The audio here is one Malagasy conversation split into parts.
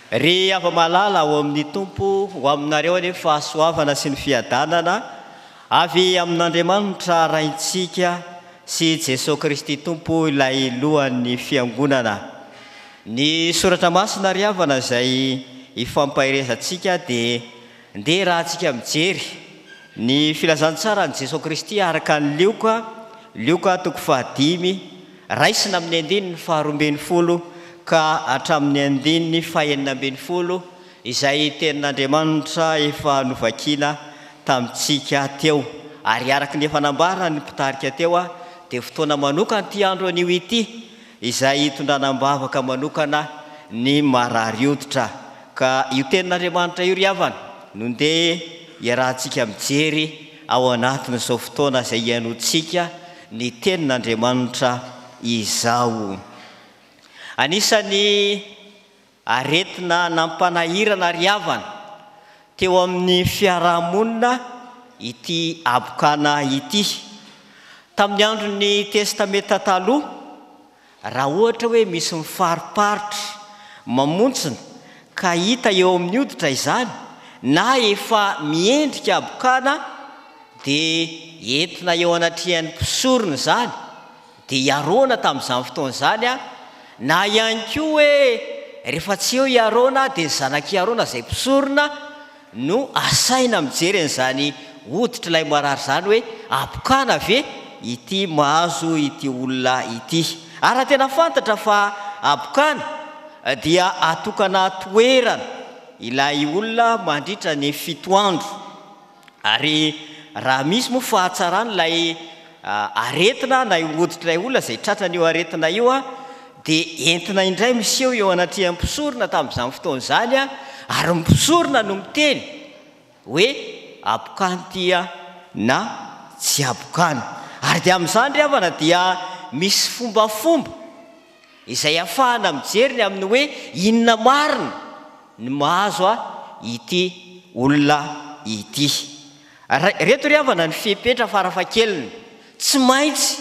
Ry hava-malala ao amin'ny Tompo, ho aminareo anie ny fahasoavana sy ny fiadanana avy amin'Andriamanitra Raintsika sy Jesoa Kristy Tompo, ilay Lohan'ny Fiangonana. Ny soratra masina ry havana izay ifampaherezantsika dia ndeha rahantsika mijery ny filazantsaran'i Jesoa Kristy araka an'i Lioka, Lioka toko fahadimy, raisina amin'ny andininy faharoa ambin'ny folo ka hatramin'ny andininy fahenina ambin'ny folo izay tenin'Andriamanitra efa novakina tamintsika teo ary araka ny efa nambaran'ny mpitarika teo dia fotoana manokana ity andro anio ity izay hitondrana am-bavaka manokana ny marary hoditra, ka io Tenin'Andriamanitra io ry havana no ndeha hiarahantsika mijery ao anatin'izao fotoana izay hihainoantsika ny Tenin'Andriamanitra izao. Anisan'ny. Aretina nampanahirana ry havana teo amin'ny fiaraha-monina ity habokana ity. Tamin'ny andron'ny Testamenta Taloha, raha ohatra hoe misy mifariparitra mamontsina ka hita eo amin'ny hoditra izany na efa miendrika habokana, dia entina eo anatrehan'ny mpisorona izany, Dia i Arona tamin'izany fotoana izany an, na ihany koa hoe rehefa tsy eo i Arona dia ny zanak'i Arona izay mpisorona no asaina mijery an'izany hoditr'ilay marary izany hoe abokana ve ity mahazo ity olona ity. Ary raha tena fantatra fa abokana dia atokana toerana ilay olona mandritra ny fito andro. Ary raha misy moa fahatsarana ilay aretina na io hoditr'ilay olona izay tratran'io aretina io dia entina indray miseho eo anatrehan'ny mpisorona tamin'izany fotoana izany ary ny mpisorona no miteny hoe abokany ity na tsy abokany. Ary dia amin'izany ry havana dia misy fombafomba. izay afahana mijery ny amin'ny hoe inona marina ny mahazo ahy ity olona ity. Ireto ry havana ny fepetra farafahakeliny tsy maintsy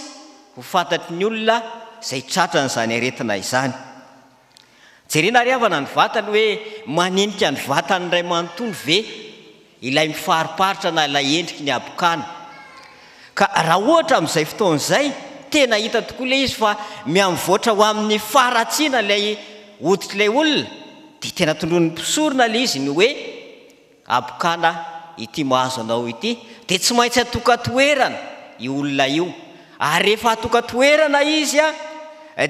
ho fantatry ny olona izay tratran'izany aretina izany. Jerena ry havana ny vatany hoe manenika ny vatany iray manontolo ve ilay mifariparitra na ilay endriky ny habokana ka raha ohatra amin'izay fotoana izay tena hita tokoa ilay izy fa mihamivoatra ho amin'ny faharatsiana ilay hoditr'ilay olona dia tena tondroin'ny mpisorona ilay izy ny hoe habokana ity mahazo anao ity dia tsy maintsy atokan-toerana io olona io ary rehefa atokan-toerana izy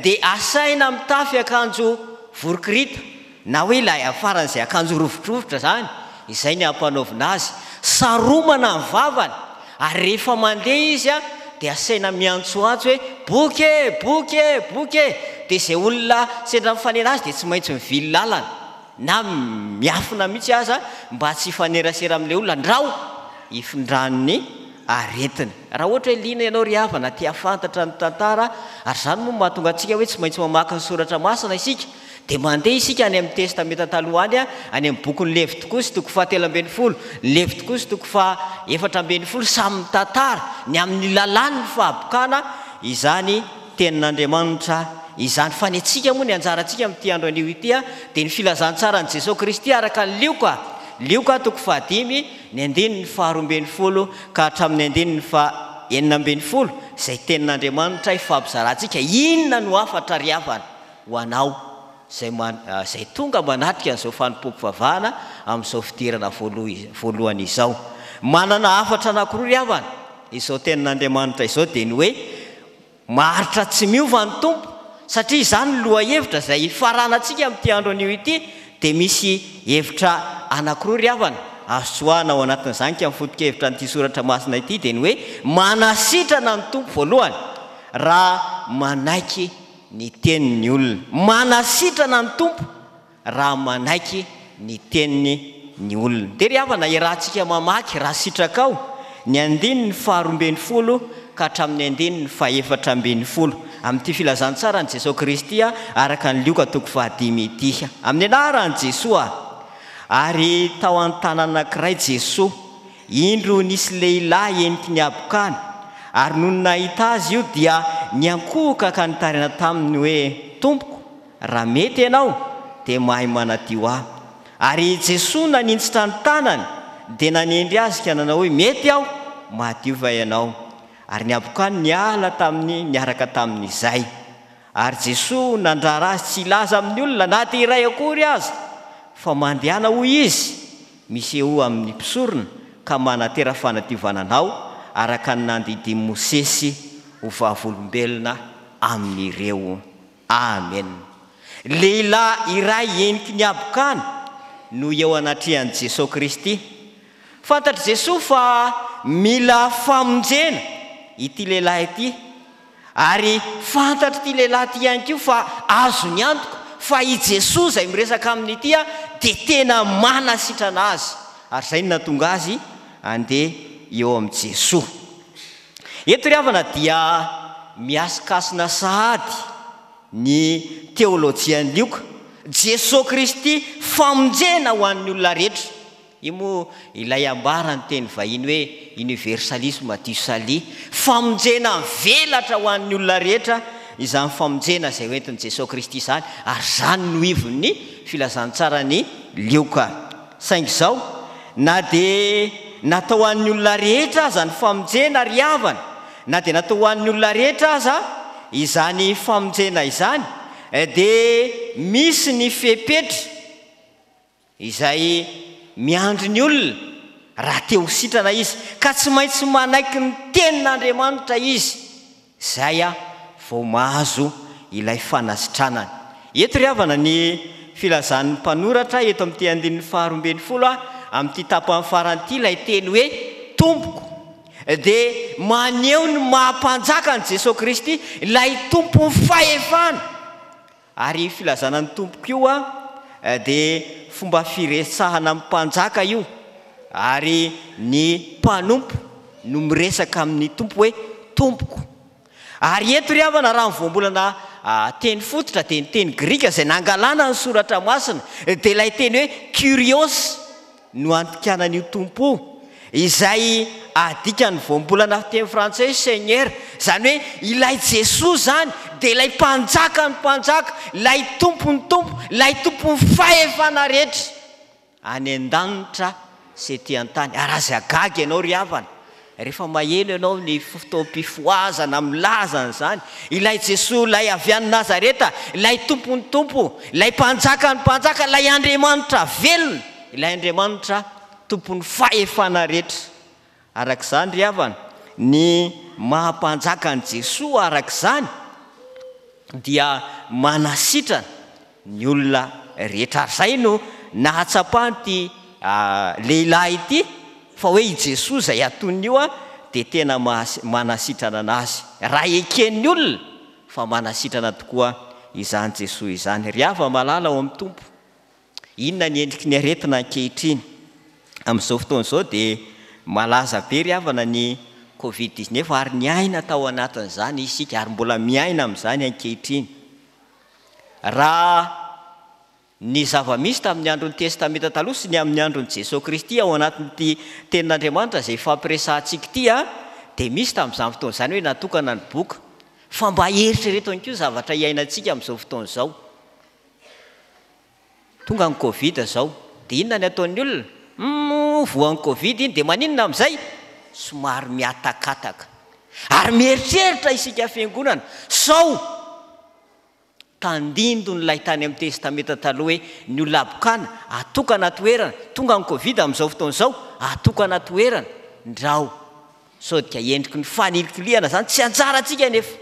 dia asaina mitafy akanjo vorokirita Na hoe ilay afaran'izay akanjo rovidrovitra izany, izay ny ampanaovina azy. Saromana ny vavany, ary rehefa mandeha izy dia asaina miantsoantso hoe, Boky e! Boky e! Boky e! Dia izay olona sendra mifanena azy dia tsy maintsy mivily lalana, na miafina mihitsy aza mba tsy hifanerasera amin'ilay olona, andrao hifindrany ny aretiny. Raha ohatra hoe liana ianao ry havana, te-hahafantatra ny tantara, ary izany moa no mahatonga antsika hoe tsy maintsy mamaky ny soratra masina isika, Dia mandeha isika any amin'ny Testamenta Taloha any, any amin'ny bokin'i Levitikosy, toko fahatelo ambin'ny folo, Levitikosy, toko fahefatra ambin'ny folo, samy mitantara ny amin'ny lalàn'ny fahabokana izany Tenin'Andriamanitra izany. Fa ny antsika moa, ny anjarantsika amin'ity andro anio ity dia ny filazantsaran'i Jesoa Kristy araka an'i Lioka, Lioka, toko fahadimy, ny andininy faharoa ambin'ny folo ka hatramin'ny andininy fahenina ambin'ny folo, izay Tenin'Andriamanitra ifampizarantsika. Inona no hafatra ry havana? Ho anao, izay man, izay tonga manatrika an'izao fanompoako vavahana amin'izao fidirana voalo, voalohany izao, manana hafatra anankiroa ry havana, izao Tenin'Andriamanitra izao dia ny hoe, Maharitra tsy miova ny Tompo, satria izany ny lohahevitra izay ifaranantsika amin'ity andro anio ity, dia misy hevitra anankiroa ry havana, azo tsoahina ao anatin'izany ka ny foto-kevitra an'ity soratra masina ity dia ny hoe, Manasitrana ny Tompo voalohany, raha manaiky ny teny ny olona. Manasitrana ny Tompo raha manaiky ny teniny ny olona. Dia ry havana, iarahantsika mamaky raha sitrakao ny andininy faharoa ambin'ny folo ka hatramin'ny andininy fahefatra ambin'ny folo amin'ity filazantsaran'i Jesoa Kristy araka ny Lioka toko fahadimy ity. Amin'ny anaran'i Jesoa. Ary tao an-tanana anankiray Jesoa. Indro nisy lehilahy eniky ny habokany, ary nony nahita azy io dia niankohoka ka nitarina taminy hoe, Tompoko, raha mety ianao, dia mahay manadio ahy. Ary i Jesoa naninjitra ny tanany dia nanendry azy ka nanao hoe, Mety aho, madio va ianao? Ary ny habokany niala taminy niaraka tamin' izay. Ary Jesoa nandrara azy tsy hilaza amin' ny olona na dia iray akory aza, fa mandehana hoy Izy, Misehoa amin' ny mpisorona ka manatera fanadiovana anao araka ny nandidian'i Mosesy ho vavolombelona amin'ireo. Amena. Lehilahy iray heniky ny habokana no eo anatrehan'i Jesoa Kristy. Fantatr'i Jesoa fa mila famonjena ity lehilahy ity Ary fantatr'ity lehilahy ity ihany koa fa azony antoka fa i Jesoa izay miresaka aminy ity dia tena manasitrana azy, ary izay no nahatonga azy handeha eo amin'i Jesoa. Eto ry havana dia mihasikasina sahady ny teolojian'i Lioka, Jesoa Kristy famonjena ho an'ny olona rehetra. Io moa ilay ambara ny teny vahiny hoe universalisme du salut, famonjena velatra ho an'ny olona rehetra, izany famonjena izay hoentin'i Jesoa Kristy izany, ary izany no ivon'ny filazantsaran'i Lioka. Saingy izao, na dia natao ho an'ny olona rehetra aza ny famonjena ry havana, na dia natao ho an'ny olona rehetra aza izany famonjena izany, dia misy ny fepetra, izay miandry ny olona raha te ho sitrana izy, ka tsy maintsy manaiky ny Tenin'Andriamanitra izy, izay vao mahazo ilay fanasitranana. Eto ry havana ny filazan'ny mpanoratra eto amin'ity andininy faharoa ambin'ny folo amin'ity tapany farany ity, ilay teny hoe Tompoko, dia maneho ny maha Mpanjakan'i Jesoa Kristy, ilay Tompon'ny fahefana. Ary filazana ny Tompo koa dia fomba firesahana amin'ny mpanjaka io, ary ny mpanompo no miresaka amin'ny Tompo hoe Tompoko. Ary eto ry havana raha ny voambolana teny fototra dia ny teny grika izay nangalana ny soratra masina dia ilay teny hoe Kyrios no andikana an'io Tompo io, izay adikan'ny voambolana fiteny frantsay hoe Seigneur, izany hoe ilay Jesoa izany dia ilay Mpanjakan'ny mpanjaka, ilay Tompon'ny tompo, ilay Tompon'ny fahefana rehetra, any an-danitra sy ety an-tany. Ary aza gaga ianao ry havana Rehefa maheno ianao ny fotoam-pifohazana milaza an'izany, Ilay Jesoa Ilay avy any Nazareta, Ilay Tompon'ny Tompo, Ilay Mpanjakan'ny Mpanjaka, Ilay Andriamanitra velona, Ilay Andriamanitra Tompon'ny fahefana rehetra. Araka izany ry havana, ny maha Mpanjaka an'i Jesoa araka izany dia manasitrana Ny olona rehetra izay no nahatsapan'ity lehilahy ity fa hoe i Jesoa izay atoniny io dia tena manasitrana an'azy. Raha eken'ny olona fa manasitrana tokoa izany Jesoa izany. Ry hava malala ao amin'ny Tompo, inona ny endriky ny aretina ankehitriny? Amin'izao fotoana izao dia malaza be ry havana ny covid dix-neuf ary niaina tao anatin'izany isika ary mbola miaina amin'izany ankehitriny. Raha ny zava-misy tamin'ny andron'ny Testamenta Taloha sy ny amin'ny andron'i Jesoa Kristy ao anatin'ity Tenin'Andriamanitra izay ifampiresahantsika ity dia misy tamin'izany fotoana izany hoe natokana ny boka. Fa mba eritrereto ihany koa ny zavatra iainantsika amin'izao fotoana izao. Tonga ny covid zao de inona ny ataon'ny olona? Humm voan'ny covid iny de maninona amin'izay? Somary mihatakataka. Ary mieritreritra isika fiangonana sao tandindon'ilay tany amin'ny testamenta taloha hoe ny olona habokana atokana toerana, tonga ny covid amin'izao fotoana izao atokana toerana, ndrao Sao dia endriky ny fanilikilihana zany? Tsy anjarantsika anefa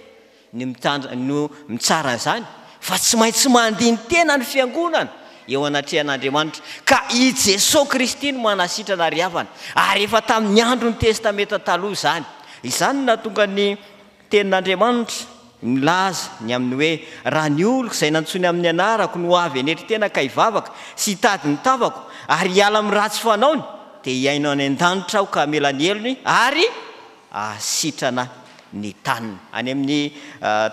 ny mitandrina no mitsara an'izany fa tsy maintsy mandini-tena ny fiangonana eo anatrehan'Andriamanitra ka i Jesoa Kristy no manasitrana ary havana ary efa tamin'ny andron'ny Testamenta Taloha izany. Izany no nahatonga ny. Tenin'Andriamanitra milaza ny amin'ny hoe, Raha ny oloko izay nantsoiny amin'ny anarako no avy hanetry tena ka hivavaka sy hitady ny tavako ary hiala amin'ny ratsy fanaony, dia hihaino any an-danitra aho ka hamela ny helony ary hahasitrana ny taniny. Any amin'ny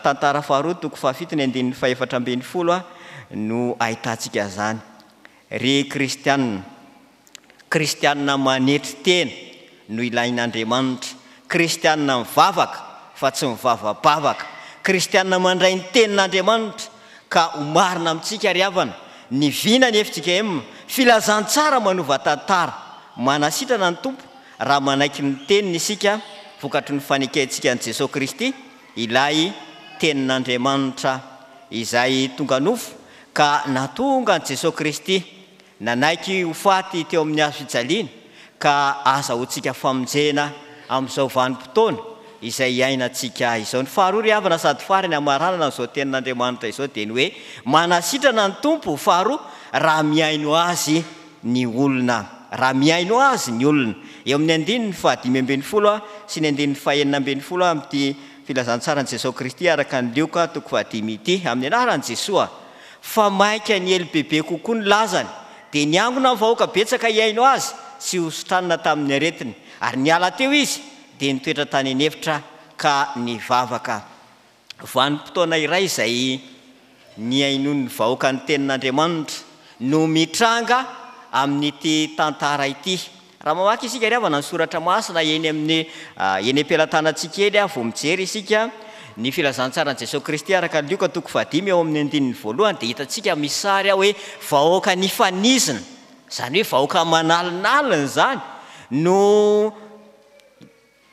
Tantara faharoa toko fahafito ny andininy fahefatra ambin'ny folo no ahitantsika izany. Ry kristiana, Kristianina manetry tena no ilain'Andriamanitra, Kristianina mivavaka fa tsy mivavabavaka, Kristianina mandray ny Tenin'Andriamanitra ka ho marina amintsika ry havana ny vina ny fjkm, filazantsara manova tantara. Manasitrana ny Tompo raha manaiky ny Teniny isika vokatry ny fanekentsika an'i Jesoa Kristy, ilay Tenin'Andriamanitra izay tonga nofo ka nahatonga an'i Jesoa Kristy Nanaiky ho faty teo amin'ny hazo fijaliana, ka azahoantsika famonjena amin'izao vanim-potoana izay iainantsika izao. Ny faharoa ry havana sady farany amin'ny maranana an'izao tenin'Andriamanitra izao dia ny hoe, Manasitrana ny Tompo, faharoa, raha mihaino Azy ny olona. Raha mihaino Azy ny olona. Eo amin'ny andininy fahadimy ambin'ny folo sy ny andininy fahenina ambin'ny folo amin'ity Filazantsaran'i Jesoa Kristy araka an'i Lioka, toko fahadimy ity, Amin'ny anaran'i Jesoa, Fa mainka niely bebe kokoa ny lazany, dia niangona ny vahoaka betsaka hihaino azy sy hosotanina tamin'ny aretiny, ary niala teo izy dia nitoetra tany an'efitra ka nivavaka. Vanim-potoana iray izay nihainoan'ny vahoaka ny tenin'Andriamanitra no mitranga amin'ity tantara ity. Raha mamaky isika ry havana ny soratra masina eny amin'ny eny am-pelatanantsika eny ary vao mijery isika ny filazantsaran'i Jesoa Kristy araka ny Lioka toko fahadimy ao amin'ny andininy voalohany dia hitantsika misy sary ao hoe vahoaka nifanizina izany hoe vahoaka manalinalina izany no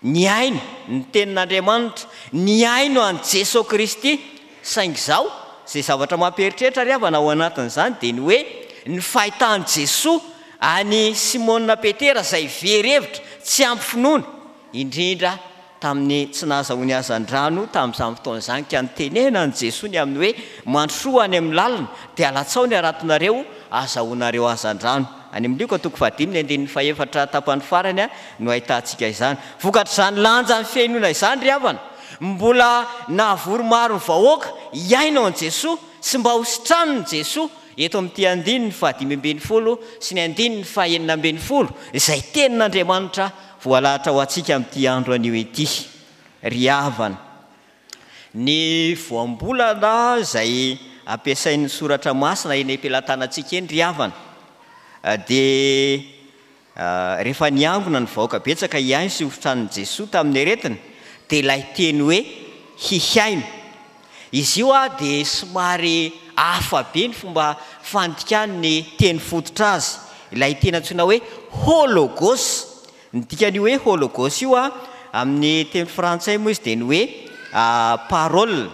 Nihaino ny tenin'Andriamanitra, nihaino an'i Jesoa Kristy, saingy izao, izay zavatra mampieritreritra ry havana ao anatin'izany dia ny hoe ny fahitan'i Jesoa an'i Simona Petera izay very hevitra, tsy ampy finoana, indrindra tamin'ny tsy nahazahoany hazandrano tamin'izany fotoana izany ka nitenenan'i Jesoa ny amin'ny hoe mandrosoa any amin'ny lalina dia alatsaho ny haratonareo hahazahoanareo hazandrano. Any amin'ny Lioka toko fahadimy ny andininy fahefatra tapany farany no ahitantsika izany. Vokatr'izany lanjan'ny fihainoana izany ry havana, mbola nahavory maro ny vahoaka hihaino an'i Jesoa sy mba ho sitranin'i Jesoa eto amin'ity andininy fahadimy ambin'ny folo sy ny andininy fahenina ambin'ny folo izay tenin'Andriamanitra voalahatra ho antsika amin'ity andro anio ity ry havana. Ny voambolana izay ampiasain'ny Soratra Masina eny am-pelatanantsika eny ry havana dia rehefa niangona ny vahoaka betsaka hihaino sy hofitran'i Jesoa tamin'ny aretina dia ilay teny hoe hihaino. Izy io dia somary hafa be ny fomba fandikany ny teny fototra azy, ilay teny antsoina hoe ho logos. Ny dikan'io hoe hologos io amin'ny teny frantsay moa izy dia ny hoe parole.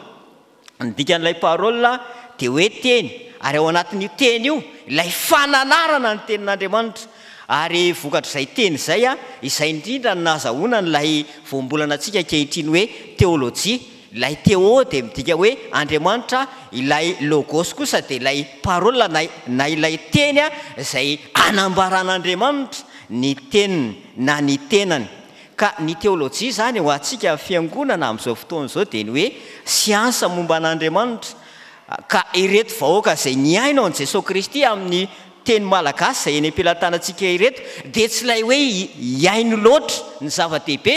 Ny dikan'ilay parole dia hoe teny ary ao anatin'io teny io ilay fananarana ny tenin'Andriamanitra ary vokatr'izay teny izay, izay indrindra no nahazahoana an'ilay voambolana antsika ankehitriny hoe teolojia. Ilay Theo dia midika hoe Andriamanitra, ilay Logos kosa dia ilay Parola na ilay Teny izay anambaran'Andriamanitra ny Teniny na ny Tenany. Ka ny teolojia izany ho antsika fiangonana amin'izao fotoana izao dia ny hoe siansa momba an'Andriamanitra. Ka ireto vahoaka izay nihaino an'i Jesoa Kristy amin'ny teny malagasy izay eny am-pelatanantsika ireto dia tsy ilay hoe hihaino loatra ny zava-dehibe,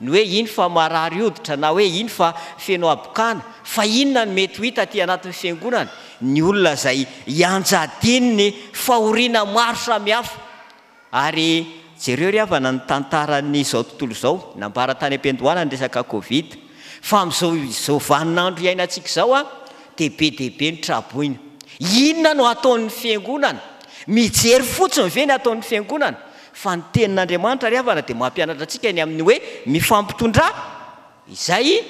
Ny hoe iny fa marary hoditra na hoe iny fa feno habokana, fa inona no mety ho hita aty anatin'ny Fiangonana? Ny olona izay ianjadian'ny fahoriana maro samihafa. Ary jereo ry havana ny tantaran'izao tontolo izao, nambara tany am-piandohana ny resaka covid, fa amin'izao izao vaninandro iainantsika izao dia be dia be ny tra-boina. Inona no hataon'ny Fiangonana? Mijery fotsiny ve ny hataon'ny Fiangonana? Fa ny Tenin'Andriamanitra ry havana dia mampianatra antsika ny amin'ny hoe mifampitondrà izay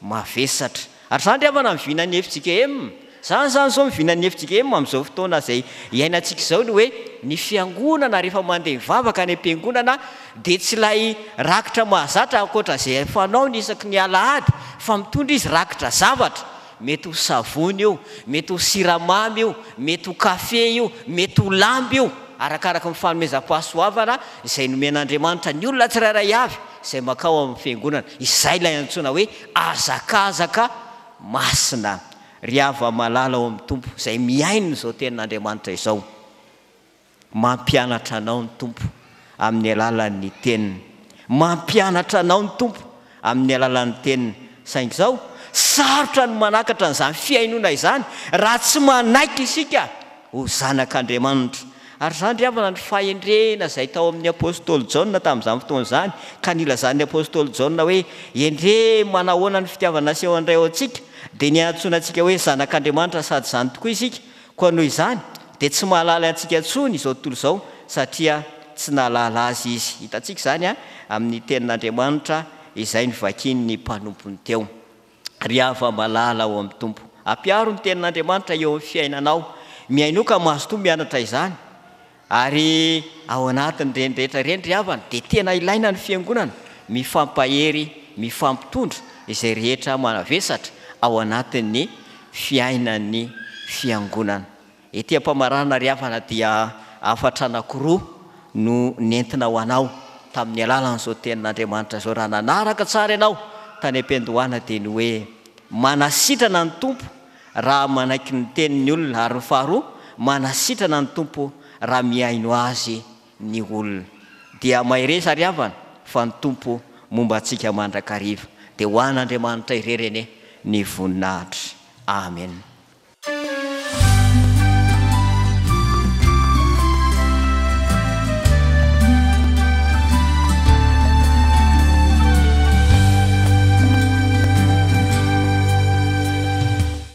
mavesatra. Ary izany ry havana ny vinan'ny fjkm. Izany izany izao ny vinan'ny fjkm amin'izao fotoana izay iainantsika izao ny hoe ny fiangonana rehefa mandeha mivavaka any am-piangonana dia tsy ilay rakitra mahazatra ankoatra izay fanaony isaky ny alahady fa mitondra izy rakitra zavatra. Mety ho savony io, mety ho siramamy io, mety ho kafe io, mety ho lamba io, arakaraka ny fanomezam-pahasoavana izay nomen'Andriamanitra ny olona tsirairay avy izay mankao amin'ny Fiangonana. Izay ilay antsoina hoe hazakazaka masina. Ry hava-malala ao amin'ny Tompo izay mihaino izao tenin'Andriamanitra izao. Mampianatra anao ny Tompo amin'ny alalan'ny Teniny. Mampianatra anao ny Tompo amin'ny alalan'ny Teniny. Saingy izao, sarotra ny manakatra an'izany fihainoana izany raha tsy manaiky isika ho zanak'Andriamanitra. Ary izany ry havana ny fahendrena izay tao amin'ny apostoly Jaona tamin'izany fotoana izany, ka nilazan'ny apostoly Jaona hoe, Endrey manahoana ny fitiavana asehoan'ny Ray ho antsika, dia niantsoana antsika hoe zanak'Andriamanitra sady izany tokoa isika. Koa noho izany dia tsy mahalala antsika intsony izao tontolo izao satria tsy nahalala azy izy. Hitantsika izany amin'ny tenin'Andriamanitra izay novakian'ny mpanompony teo. Ry hava-malala ao amin'ny Tompo, ampiaro ny tenin'Andriamanitra eo amin'ny fiainanao. Mihainoa ka mazotoa mianatra izany. Ary ao anatin'ireny rehetra ireny ry havana dia tena ilaina ny fiangonana mifampahery, mifampitondra izay rehetra manavesatra ao anatin'ny fiainan'ny fiangonana. Ety am-pamaranana ry havana dia hafatra anankiroa no nentina ho anao tamin'ny alalan'izao tenin'Andriamanitra izao, raha nanaraka tsara ianao tany am-piandohana dia ny hoe, Manasitrana ny Tompo, raha manaiky ny tenin'ny olona, ary faharoa, manasitrana ny Tompo raha mihaino Azy ny olona. Dia mahereza ry havana fa ny Tompo momba antsika mandrakariva. Dia ho an'Andriamanitra irery anie ny voninahitra. Amena.